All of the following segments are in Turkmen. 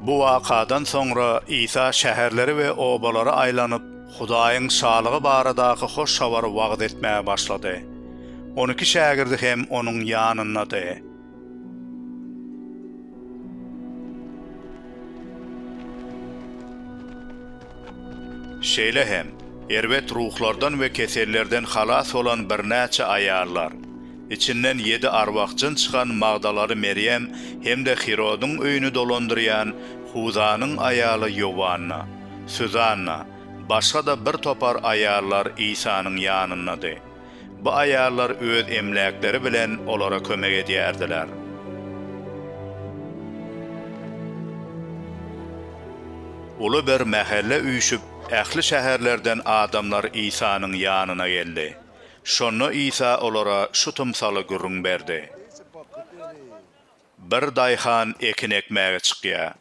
Bu wakadan soňra Isa şäherleri we obalary aýlanyp, Hudaýyň Şalygy baradaky hoş habary wagyz etmäge başlady. On iki şägirdi hem onuň ýanyndady. Şeýle hem, erbet ruhlardan we kesellerden halas bolan birnäçe aýallar, içinden ýedi arwah-jyn çykan Magdalaly Merýem hem-de Hirodyň öýüni dolandyrýan Huzanyň aýaly Ýowanna, Suzanna, başga-da birtopar aýallar Isanyň ýanyndady. Bu aýallar öz emläkleri bilen olara kömek edýärdiler. Uly bir mähelle üýşüp, ähli şäherlerden adamlar Isanyň ýanyna geldi. Şonda Isa olara şu tymsaly gürrüň berdi. Bir daýhan ekin ekmäge çykýar.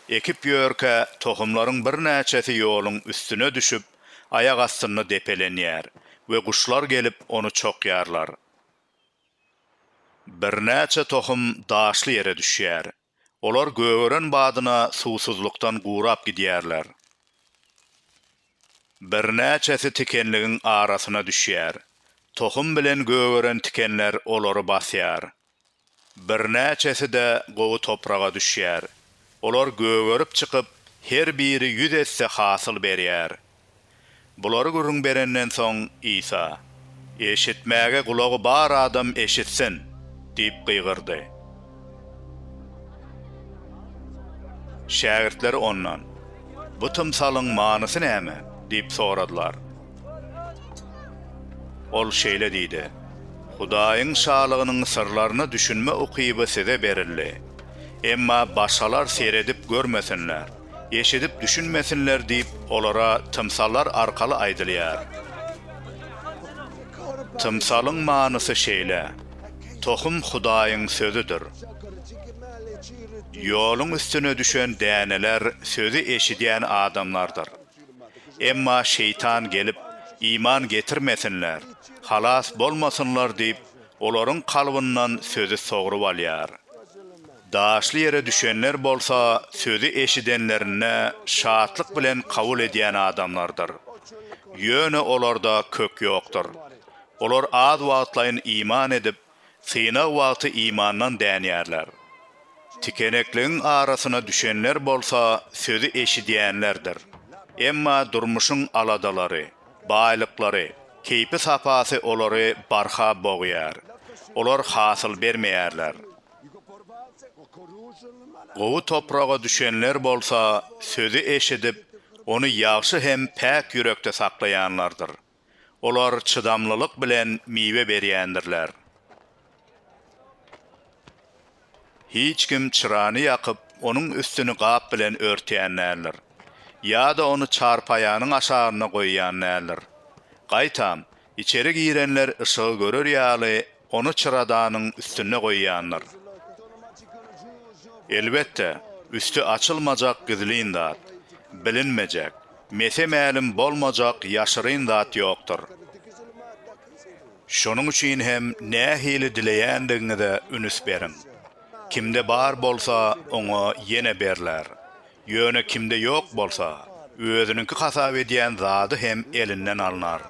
Ekip ýörkä, tohumlaryň birnäçesi ýoluň üstüne düşüp, aýak astynda depelenýär we guşlar gelip, ony çokýarlar. Birnäçe tohum daşly ýere düşýär. Olar gögeren badyna suwsuzlykdan gurap gidýärler. Birnäçesi tikenligiň arasyna düşýär. Tohum bilen gögeren tikenler olary basýar. Birnäçesi-de gowy topraga düşýär. Olar gögerip çykyp, her biri ýüz esse hasyl berýär. Bulary gürrüň berenden soň, Isa, Eşitmäge gulagy bar adam eşitsin! diýip gygyrdy. Şägirtleri Ondan, Bu tymsalyň manysy näme? diýip soradylar. Ol şeýle diýdi, Hudaýyň Şalygynyň syrlaryna düşünme ukyby size berildi. Emma başgalar seredip görmesinler, eşidip düşünmesinler diýip, olara tymsallar arkaly aýdylýar. Tymsalyň manysy şeýle, Tohum Hudaýyň Sözüdir. Ýoluň üstüne düşen däneler sözi eşidýän adamlardyr. Emma şeýtan gelip, iman getirmesinler, halas bolmasynlar diýip, olaryň kalbyndan sözi sogrup alýar. Daşly ýere düşenler bolsa sözi eşidenlerinde şatlyk bilen kabul edýän adamlardyr. Ýöne olarda kök ýokdur. Olar az wagtlaýyn iman edip, Synag wagty imandan dänýärler. Tikenekligiň arasyna düşenler bolsa sözi eşidýänlerdir. Emma durmuşyň aladalary, baýlyklary, keýpi-sapasy olary barha bogýar. Olar hasyl bermeýärler. Gowy topraga düşenler bolsa sözi eşidip, ony ýagşy hem päk ýürekde saklaýanlardyr. Olar çydamlylyk bilen miwe berýändirler. Hiç kim çyrany ýakyp, onuň üstüni gap bilen örtýän däldir. Ýa-da ony çarpaýanyň aşagynda goýýan däldir. Gaýtam, içeri girenler yşygy görer ýaly, ony çyradanyň üstünde goýýandyr. Elbetde, üsti açylmajak gizlin zat, bilinmejek, mese-mälim bolmajak ýaşyryn zat ýokdur. Şonuň üçin hem nähili dileýändigiňize ünüs beriň. Kimde bar bolsa, oňa ýene berler, ýöne kimde ýok bolsa, özüniňki hasap edýän zady hem elinden alnar.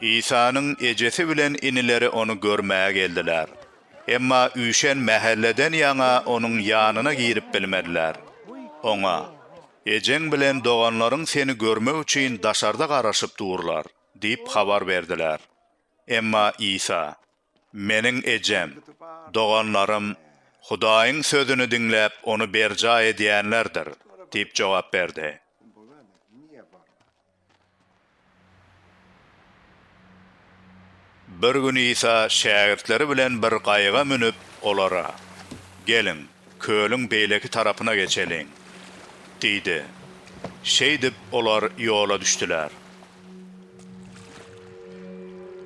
Isanyň ejesi bilen inileri ony görmäge geldiler. Emma üýşen mähelleden ýaňa onuň ýanyna girip bilmediler. Oňa, Ejeň bilen doganlaryň seni görmek üçin daşarda garaşyp durlar diýip habar berdiler. Emma Isa, Meniň ejem, doganlarym Hudaýyň sözüni diňläp, ony berjaý edýänlerdir diýip jogap berdi. Bir gün Isa şägirtleri bilen bir gaýyga münüp, olara, Geliň, kölüň beýleki tarapyna geçeliň! diýdi. Şeýdip, olar ýola düşdüler.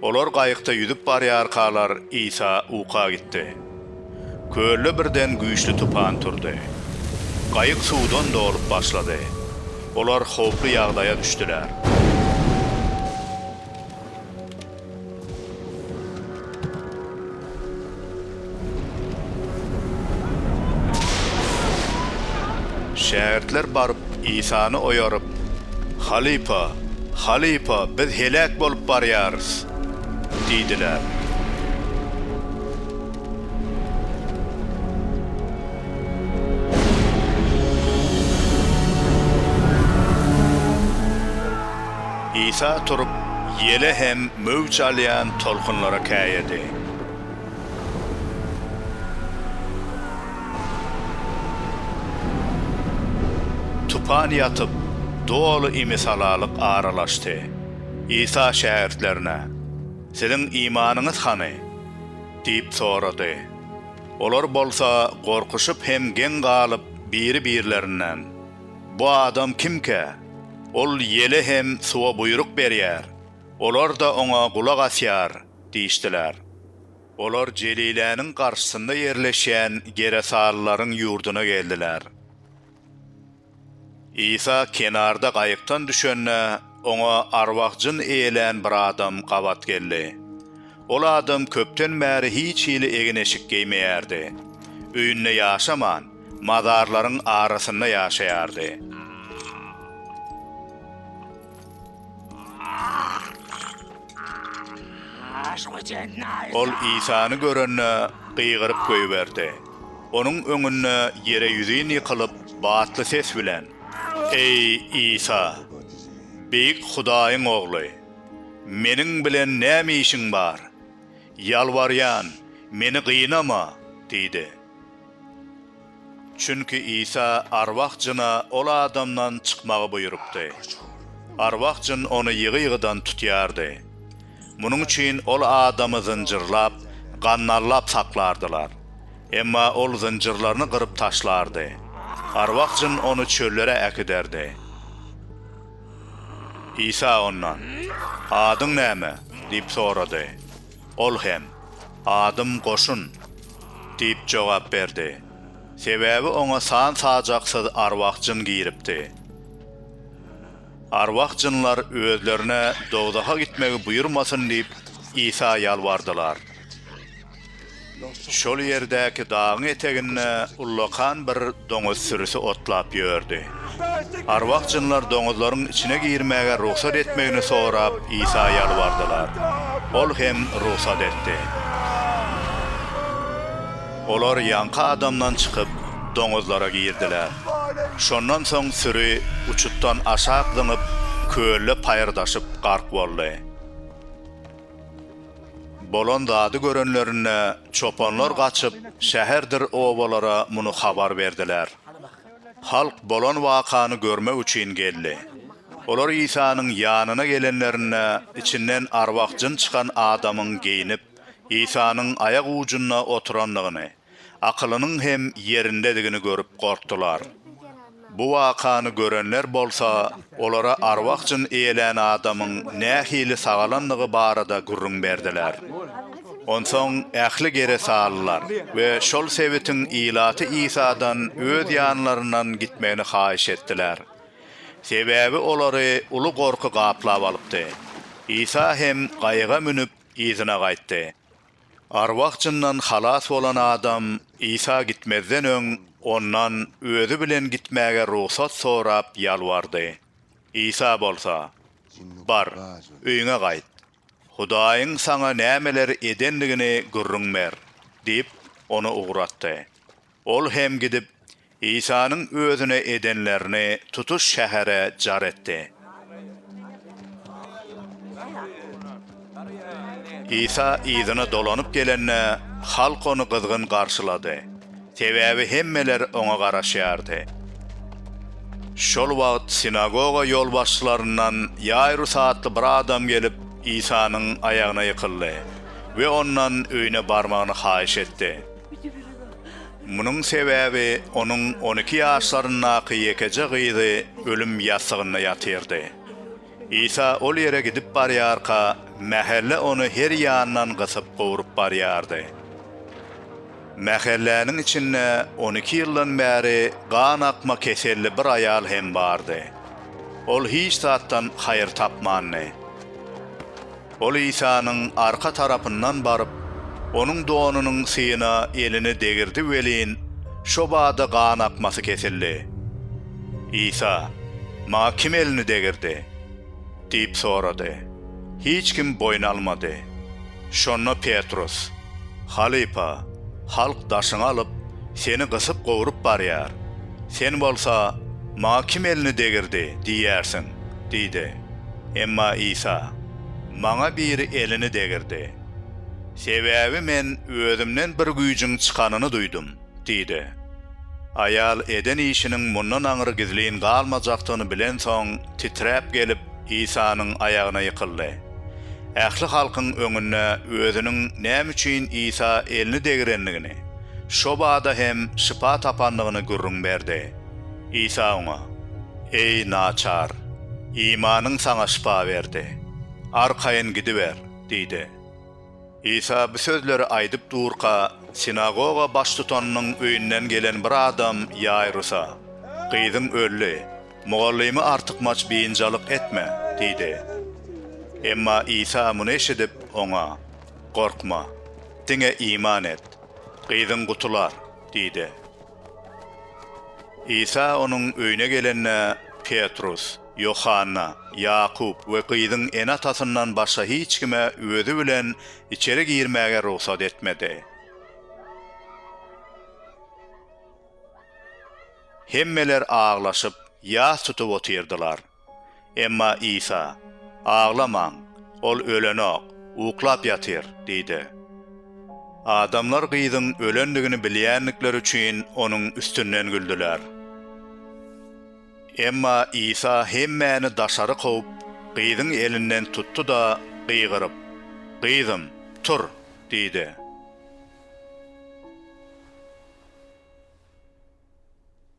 Olar gaýykda ýüzüp barýarkalar, Isa uka gitdi. Kölde birden güýçli tupan turdy. Gaýyk suwdan dolup başlady. Olar howply ýagdaýa düşdüler. Şägirtler baryp, Isany oýaryp, Halypa, halypa, biz heläk bolup barýarys! diýdiler. Isa turup, ýele hem möwç alýan tolkunlara käýedi. Tupan ýatyp, doly imisalalyk aralaşdy. Isa şägirtlerine, Siziň imanyňyz hany? diýip sorady. Olar bolsa gorkuşyp hem geň galyp, biri-birlerinden, Bu adam kimkä? Ol ýele hem suwa buýruk berýär, olar-da oňa gulak asýar diýişdiler. Olar Jeliläniň garşysynda ýerleşýän geresalylaryň ýurduna geldiler. Isa kenarda gaýykdan düşende, oňa arwah-jyn eýlän bir adam gabat geldi. Ol adam köpden bäri hiç hili egin-eşik geýmeýärdi. Öýünde ýaşaman, mazarlaryň arasynda ýaşaýardy. Ol Isany görende, gygyryp goýberdi. Onuň öňünde ýere ýüzin ýykylyp, batly ses bilen, Eý, Isa, Beýik Hudaýyň Ogly, meniň bilen näme işiň bar? Ýalbarýan, meni gynama! diýdi. Çünki Isa arwah jyna ol adamdan çykmagy buýrupdy. Arwah jyn ony ýygy-ýygydan tutýardy. Munuň üçin ol adamy zynjyrlap, gandallap saklardylar. Emma ol zynjyrlaryny gyryp taşlardy. Arwah jyn ony çöllere äkiderdi. Isa ondan, Adyň näme? diýip sorady. Ol hem, Adym Goşun! diýip jogap berdi. Sebäbi oňa san-sajaksyz arwah-jyn giripdi. Arwah-jynlar özlerine dowzaha gitmegi buýurmasyn diýip, Isa ýalbardylar. Şol ýerdäki dagyň eteginde ullakan bir doňuz sürüsi otlap ýördi. Arwah-jynlar doňuzlaryň içine girmäge rugsat etmegini sorap Isa ýalbardylar. Ol hem rugsat etdi. Olar ýaňky adamdan çykyp, doňuzlara girdiler. Şondan soň süri uçutdan aşak zyňyp, kölde paýyrdaşyp gark boldy. Bolan zady görenlerinde, çopanlar gaçyp, şäherdir obalara muny habar berdiler. Halk bolan wakany görmek üçin geldi. Olar Isanyň ýanyna gelenlerinde, içinden arwah-jyn çykan adamyň geýnip, Isanyň aýak ujunda oturandygyny, Akylynyň hem ýerindedigini görüp gorkdular. Bu wakany görenler bolsa, olara arwah-jyn eýlän adamyň nähili sagalandygy barada gürrüň berdiler. Onsoň ähli geresalylar we şol sebitiň ilaty Isadan öz ýanlaryndan gitmegini haýyş etdiler. Sebäbi olary uly gorky gaplap alypdy. Isa hem gaýyga münüp, yzyna gaýtdy. Arwah-jyndan halas bolan adam Isa gitmezden öň Ondan özi bilen gitmäge rugsat sorap ýalbardy. Isa bolsa, Bar, öýüňe gaýt. Hudaýyň saňa nämeler edendigini gürrüň ber, diýip, ony ugratdy. Ol hem gidip, Isanyň özüne edenlerini tutuş şähere jar etdi. Isa yzyna dolanyp gelende, halk ony gyzgyn garşylady, sebäbi hemmeler oňa garaşýardy. Şol wagt sinagoga ýolbaşçylaryndan Ýaýrus atly bir adam gelip, Isanyň aýagyna ýykyldy we ondan öýüne barmagyny haýyş etdi. Munuň sebäbi onuň on iki ýaşlaryndaky ýekeje gyzy ölüm ýassygynda ýatyrdy. Isa ol ýere gidip barýarka, mähelle ony her ýandan gysyp gowrup barýardy. Mähelläniň içinde on iki ýyldan bäri gan akma keselli bir aýal hem bardy. Ol hiç zatdan haýyr tapmandy. Ol Isanyň arka tarapyndan baryp, Onuň donunyň syýyna elini degirdi welin, şo bada gan akmasy kesildi. Isa, Maňa kim elini degirdi? diýip sorady. Hiç kim boýun almady. Şonda Petrus, Halypa, halk daşyňy alyp, Seni gysyp-gowrup barýar. Sen bolsa, Maňa kim elini degirdi? diýýärsiň. Diýdi. Emma Isa, Maňa biri elini degirdi. Sebäbi Men Özümden bir güýjüň çykanyny duýdum, diýdi. Aýal eden işiniň mundan aňry gizlin galmajakdygyny bilensoň, titräp gelip, Isanyň aýagyna ýykyldy. Ähli halkyň öňünde özüniň näme üçin Isa elini degirendigini, şo bada hem şypa tapandygyny gürrüň berdi. Isa oňa, Eý, naçar, imanyň saňa şypa berdi. Arkaýyn gidiber! diýdi. Isa bu sözleri aýdyp durka, sinagoga baştutanynyň öýünden gelen bir adam Ýaýrusa, Gyzyň öldi, mugallymy artykmaç biynjalyk etme! diýdi. Emma Isa muny eşidip, oňa, Gorkma, diňe iman et, gyzyň gutular! diýdi. Isa onuň öýüne gelende, Petrus, Ýohanna, Ýakup we gyzyň ene-atasyndan başga hiç kime özi bilen içeri girmäge rugsat etmedi. Hemmeler aglaşyp, ýas tutup otyrdylar. Emma Isa, Aglamaň, Ol ölenok, uklap ýatyr diýdi. Adamlar gyzyň ölendigini bilýändikleri üçin onuň üstünden güldüler. Emma Isa hemmäni daşary kowup, gyzyň elinden tutdy-da, gygyryp, Gyzym, tur! diýdi.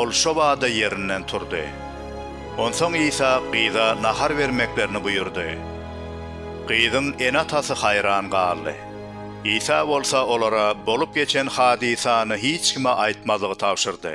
Ol şo bada ýerinden turdy. Onsoň Isa gyza nahar bermeklerini buýurdy. Gyzyň ene-atasy haýran galdy. Isa bolsa olara bolup geçen hadysany hiç kime aýtmazlygy tabşyrdy.